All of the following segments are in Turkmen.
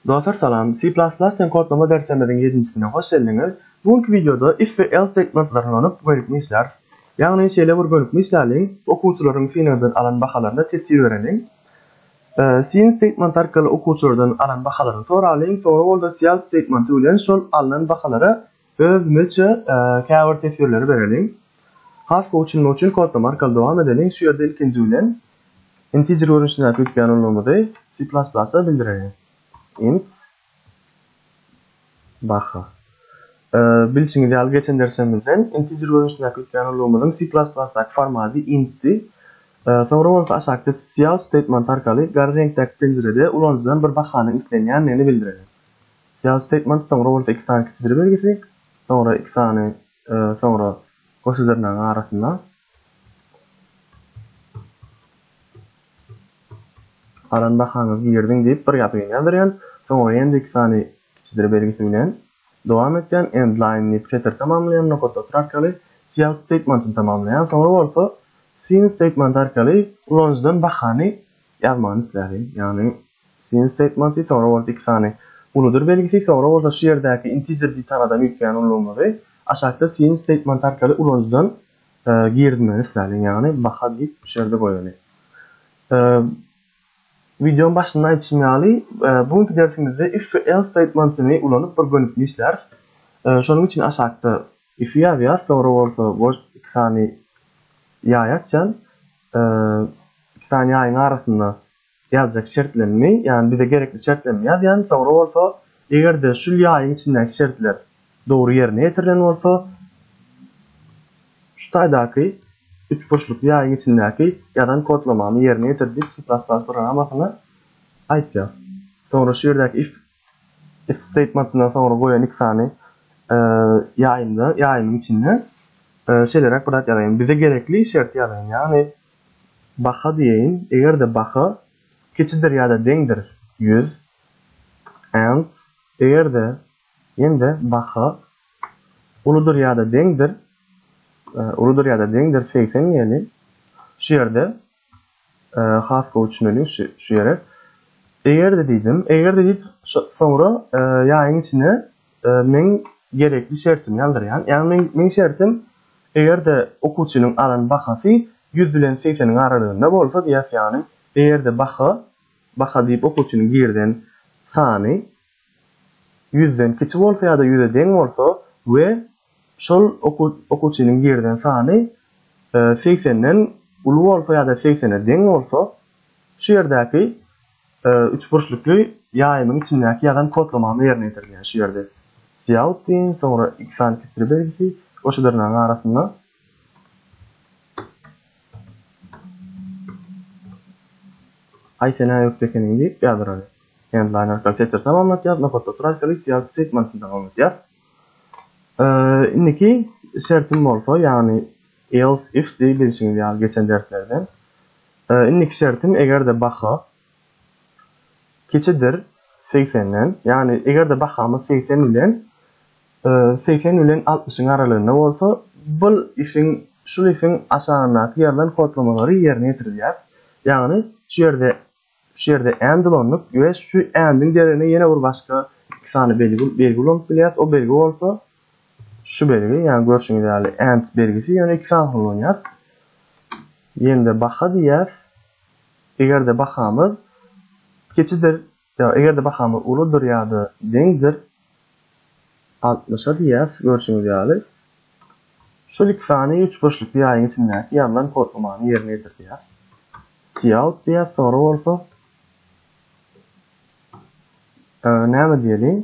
Dostlar salam, C++ deň kodlama derslerimiziň ýedinjisine hoş geldiňiz. Bu günki wideoda if we else segmentlerini ulanyp gönükme işläris. Ýagny şeýle bir gönükme işläliň, okuwçylaryň synagdan alan bahalaryna tesir bereliň. Syn statement arkaly okuwçylardan alan bahalaryny soralyň, soňra bolsa self statement bilen şol alnan bahalara özümiçe käbir teswirleri bereliň. Has gowy düşünmek üçin kodlama arkaly dowam edeliň, şu ýerde ilkinji bilen integer görnüşindäki ýükleýän ulgamymyzy C++-a bildireliň. Int. Barha. Bilşiňiz ýaly, geçen dersimizden integer görnüşindäki ýükleýän ulgamymyzyň C++-daky formaty int-di. Soňra bolsa aşakda cout statementy arkaly gara reňkdäki penjirede ulanyjydan bir bahanyň islenýändigini bildireli. Cout statementy soňra bolsa iki sany kiçijir belgisi, soňra iki sany, soňra goşa dyrnagyň arasynda Alan bahaňyz girdiň diýip bir ýazgyn ýazdyrýan, soňra endiki sany kiçidir belgisi bilen dowam etýän, endline diýip setiri tamamlaýan, nokat otur arkaly cout statementyny tamamlaýan, soňra bolsa syn statementy arkaly ulanyjydan bahany ýazmagyny islärdim, ýagny. Scene Statementy, Soňra bolsa iki sany uludyr belgisi, soňra bolsa şu ýerdäki integer diýtanadan üýtgän ululamazy aşakda scene statement arkaly ulanyjydan girizmegini isläliň, ýagny baha git şu ýerde goýaly. Wideoň başynda aýdyşym ýaly, bu günki dersimizde if we else statementini ulanyp bir gönükli işläris. Şonuň üçin aşakda if-i ýazýas, soňra bolsa boş iki sany ýaý açýan, iki sany ýaýyň arasynda ýazjak şertlerini, ýagny bize gerekli şertlerini ýazýan, soňra bolsa eger-de şul ýaýyň içindäki şertler dogry ýerine ýetirilen bolsa, şu taýdaky üç burçlukly ýaýyň içindäki ýazan kodlamamy ýerine ýetir diýip C++ programmasyna aýtýar. Soňra şu ýerdäki if if statementyndan soňra goýan iki sany ýaýymda, ýaýymyň içinde şeýleräk bir zat ýazaýyn, bize gerekli şerti ýazaýyn, ýagny Baha diýeýin, eger-de baha kiçidir ýa-da deňdir ýüz, and, eger-de, ýene-de, baha uludyr ýa-da deňdir, uludyr ýa-da deňdir segsen, ýeli, şu ýerde, has gowy düşüneliň şu ýere, eger-de diýdim, eger-de diýip, soňra ýaýyň içine Meň gerekli şertimi ýazdyrýan. Ýagny meň meň şertim eger-de okuwçynyň alan bahasy ýüz bilen segseniň aralygynda bolsa diýýäs ýagny eger-de baha baha diýip okuwçynyň girizen sany ýüzden kiçi bolsa ýa-da ýüze deň bolsa we şol okuw okuwçynyň girizen sany segsenden uly bolsa ýa-da segsene deň bolsa şu ýerdäki üç burçlukly ýaýymyň içindäki ýazan kodlamamy ýerine ýetirýän. Şu ýerde Cout diýiň, soňra iki sany kesre belgisi we şu dyrnagyň arasynda Aý sen äýüpdi ekeniň diýip ýazdyraryn. Endline arkaly setir tamamlatýas, nokat otur arkaly Cout segmentini tamamlatýas. Indiki şertim bolsa, ýagny else if diýip bilşiňiz ýaly geçen derslerden. Indiki şertim eger-de baha kiçidir segsenden, ýagny eger-de bahamyz segsen bilen segsen bilen altmyşyň aralygynda bolsa, bul ifiň şul ifiň aşagyndaky ýazylan kodlamalary ýerine ýetirilýär. Ýagny şu ýerde şu ýerde and ulanyp we şu and-iň deregine ýene bir başga iki sany belgi belgi ulanyp bilýäs. O belgi bolsa, Şu belgi, ýagny görşüňiz ýaly and belgisi, ýöne iki sany ullanýar. Ýende baha diýýär. Eger-de bahamyz kiçidir, ýa eger-de bahamyz uludyr ýa-da deňdir altmyşa diýýäs, görşüňiz ýaly. Şol iki sany üç burçlukly ýaýyň içindäki ýazylan kodlamany ýerine ýetir diýýär. Cout diýýäs, soňra bolsa näme diýeliň?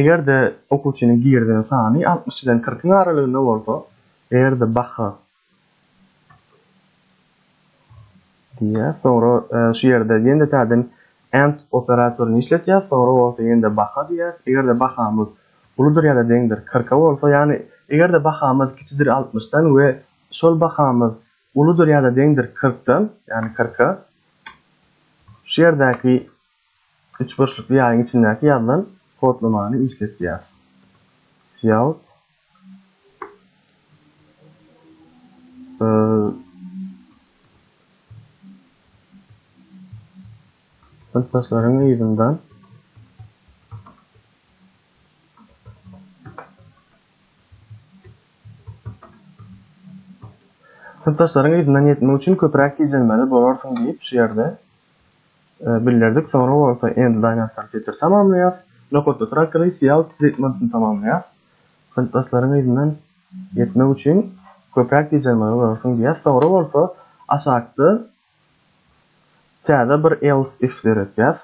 Eger-de okuwçynyň girizen sany altmyş bilen kyrkyň aralygynda bolsa, eger-de baha diýýär, soňra şu ýerde ýene-de täzeden and operatoryny işletýär, soňra bolsa ýene-de baha diýýär. Eger-de bahamyz uludyr ýa-da deňdir kyrka bolsa, ýagny eger-de bahamyz kiçidir altmyşdan we şol bahamyz uludyr ýa-da deňdir kyrkdan, ýagny kyrka, şu ýerdäki Üçburçlukly ýaýyň içindäki ýazylan kodlamany işlet diýýär. Cout Synpdaşlaryň yzyndan Synpdaşlaryň yzyndan ýetmek üçin köpräk gijelmeli bolarsyň diýip şu ýerde bildirdik. Soňra bolsa End Lineup kompýuter tamamlaýar. Nokatda Track Race ýag tretmantini tamamlaýar. Synpdaşlaryň yzyndan ýetmek üçin köpräk gijelmegi görersiň diýýär. Soňra bolsa aşakda täze bir else if döretýär.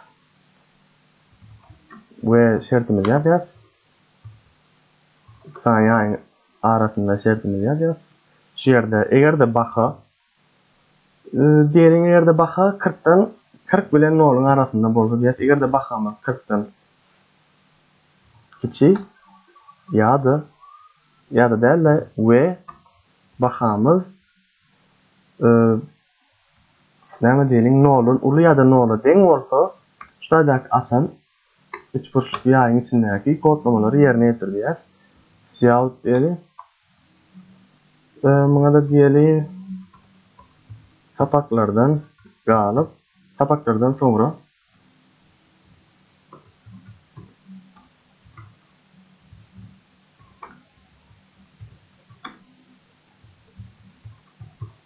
We şertimizi ýazýar. Sanýaň arasynda şertimizi ýazýar. Şu ýerde eger-de baha Diýeliň, eger-de baha kyrkdan, kyrk bilen noluň arasynda bolsa diýýäs. Eger-de bahamyz kyrkdan kiçi ýa-da ýa-da däl-de we bahamyz näme diýeliň, noldan uly ýa-da nola deň bolsa, şu taýdaky açan Üçburçlukly ýaýyň içindäki kodlamalary ýerine ýetirýär. Cout diýeli. Muňa-da diýeli sapaklardan galyp, sapaklardan soňra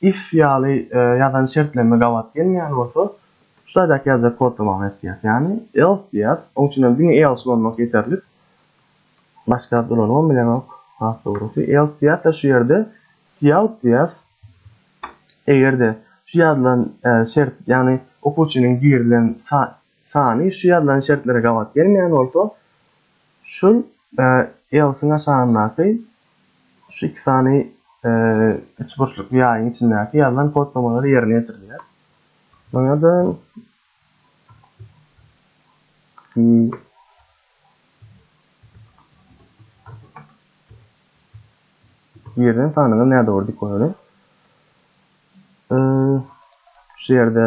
If ýaly ýazan şertneme gabat gelmeýän bolsa, şu taýdaky ýazjak kodda many etýär. Ýagny else diýýäs, oň üçin hem diňe else ulanmak ýeterlik. Başga zat ulanybam bilenok, has dogrusy. Else diýýäs-de şu ýerde cout diýýäs. Eger-de şu ýazylan şert, ýagny okuwçynyň girilen sany şu ýazylan şertlere gabat gelmeýän bolsa, şul else-iň aşagyndaky Şu iki sany üçburçlukly ýaýyň içindäki ýazylan kodlamalar ýerine ýetirilýär. Muňa-da Ýerden sanyňyz nädogry dik bolany. Şu ýerde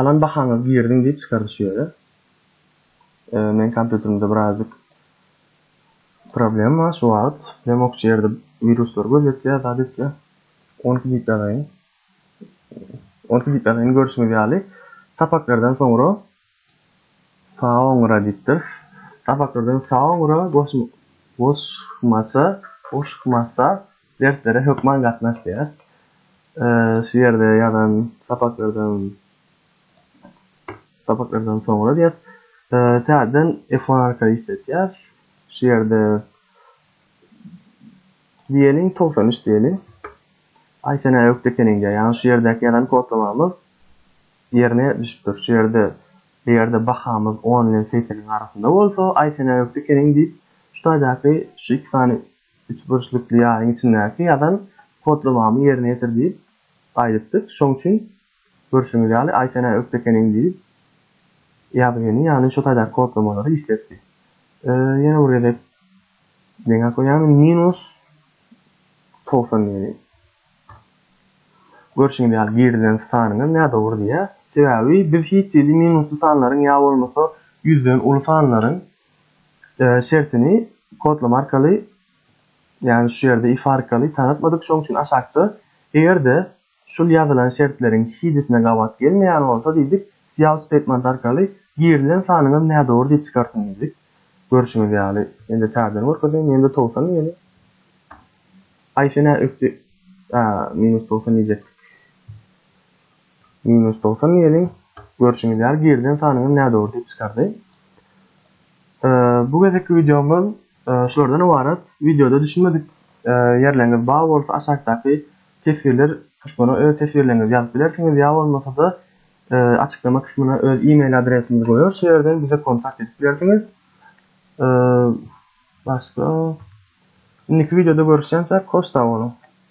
Alan bahaňyz girdiň diýip çykardy şu ýere. Meň kompýuterimde birazjyk problem bar şu wagt. Lemok şu ýerde wiruslar gözýetýär, zat etýär. Onki diýip ýazaýyn. Onki diýip ýazaýyn görşüňiz ýaly. Sapaklardan soňra Saoňra diýipdir. Sapaklardan saoňra goşmaça, goşmaça derslere hökman gatnaş diýýär. Şu ýerde ýazan sapaklardan sapaklardan soňra diýýär. Täzeden F1 arkaly işletýär. Şu ýerde diýeniň 93 diýeni. Aýsene ökde ekeniň diýýär. Ýagny şu ýerdäki ýazan kodlamamyz Ýerine düşüpdir. Şu ýerde, eger-de bahamyz on bilen segseniň arasynda bolsa, aý sen ökde ekeniň diýip, şu taýdaky şu iki sany üçburçlukly ýaryň içindäki ýazan kodlamamy ýerine ýetir diýip aýdypdyk. Şoň üçin, görşüňiz ýaly, aý sen ökde ekeniň diýip ýazgyny, ýagny şu taýdaky kodlamalary işletdi. Ýene bir gezek deňe goýýan, minus togsan diýeli. Görşüňiz ýaly girilen sanyňyz nädogry diýýär. Sebäbi biz hiç hili minusly sanlaryň ýa bolmasa ýüzden uly sanlaryň şertini kodlama arkaly ýagny şu ýerde if arkaly tanatmadyk şoň üçin aşakda eger-de şul ýazylan şertleriň hijisine gabat gelmeýän bolsa diýdik cout statement arkaly girilen sanyňyz nädogry diýip çykartyn diýdik. Görşüňiz ýaly indi täzeden görkezeýin ýene-de towsan diýeli. Aý sen nä ökde a minus togsan diýjekdik. Minus togsan diýeliň. Görşüňiz ýaly girilen sanyňam nädogry diýip çykardy. Bu gezekki wideomyz şulardan ybarat. Wideoda düşünmedik ýerleriňiz bar bolsa aşakdaky teswirler kysmyna öz teswirleriňizi ýazyp bilersiňiz ýa bolmasa-da açyklama kysmyna öz e-mail adresimizi goýarys, şo ýerden bize kontakt edip bilersiňiz. Başga. Indiki wideoda görüşýänçä koç sag boluň.